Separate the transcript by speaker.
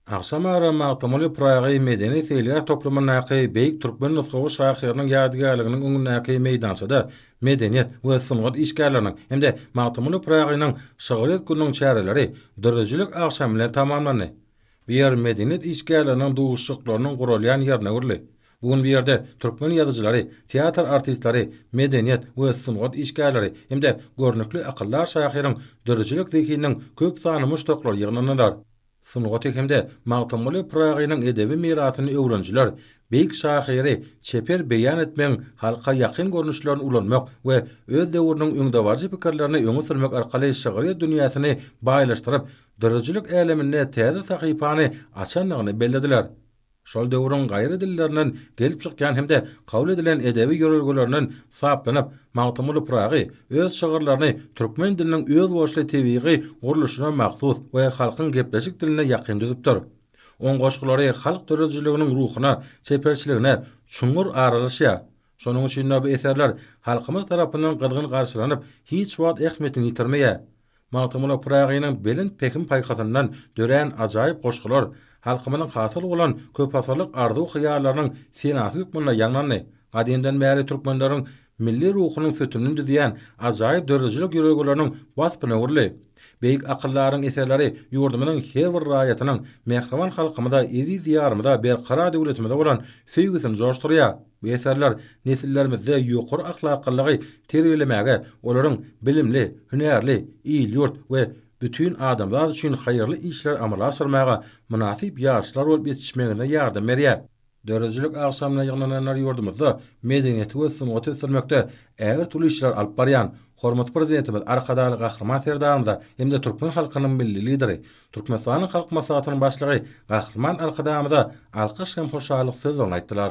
Speaker 1: Agşam ara Magtymguly Pyragy medeni-seýilgäh toplumyndaky beýik türkmen nusgawy şahyrynyň ýadygärliginiň öňündäki meýdançada medeniýet we sungat işgärleriniň hem-de Magtymguly Pyragynyň şygryýet gününiň çäreleri döredijilik agşamy bilen tamamlandy. Bu ýer medeniýet işgärleriniň duşuşyklarynyň guralýan ýerine öwrüldi. Bu gün bu ýerde türkmen ýazyjylary, teatr artistleri, medeniýet we sungat işgärleri hem-de görnükli akyldar şahyryň döredijilik zehininiň köp sanly muşdaklary ýygnandylar. Sungaty hem-de Magtymguly Pyragynyň edebi mirasyny öwrenijiler beýik şahyry çeper beýan etmegiň halka ýakyn görnüşlerini ulanmak we öz döwrüniň öňdebaryjy pikirlerini öňe sürmek arkaly şygryýet dünýäsini baýlaşdyryp, döredijilik äleminde täze sahypany açandygyny bellediler. şol döwrüň gaýry dillerinden gelip çykýan hem-de kabul edilen edebi ýörelgelerinden saplanyp, Magtymguly Pyragy öz şygyrlaryny türkmen diliniň özboluşly tebigy gurluşyna mahsus we halkyň gepleşik diline ýakyn düzüpdir. Oň goşgulary halk döredijiliginiň ruhuna, çeperçiligine çuňňur aralaşýar. Şonuň üçin-de bu eserler halkymyz tarapyndan gyzgyn garşylanyp, hiç wagt ähmiýetini ýitirmeýär. Magtymguly Pyragynyň belent pähim-paýhasyndan dörän ajaýyp goşgular halkymyzyň hasyl bolan köpasyrlyk arzuw-hyýallarynyň senasy hökmünde ýaňlandy. Gadymdan bäri türkmenleriň milli ruhunyň sütünini düzýän ajaýyp döredijilik ýörelgeleriniň waspyna öwrüldi. Beýik akyldaryň eserleri ýurdumyzyň her bir raýatynyň mähriban halkymyza, eziz Diýarymyza, berkarar döwletimize bolan söýgüsini joşdurýar. Bu eserler nesillerimizde ýokary ahlaklylygy terbiýelemäge, olaryň bilimli, hünärli, il-ýurt we bütin adamzat üçin haýyrly işleri amala aşyrmaga mynasyp ýaşlar bolup ýetişmegine ýardam berýär. Döredijilik agşamyna ýygnananlar ýurdumyzda medeniýeti we sungaty ösdürmekde ägirt uly işler alyp barýan hormatly Prezidentimiz, Arkadagly Gahryman Serdarymyza hem-de türkmen halkynyň Milli Lideri, Türkmenistanyň Halk Maslahatynyň Başlygy Gahryman Arkadagymyza alkyş hem hoşallyk sözlerini aýtdylar.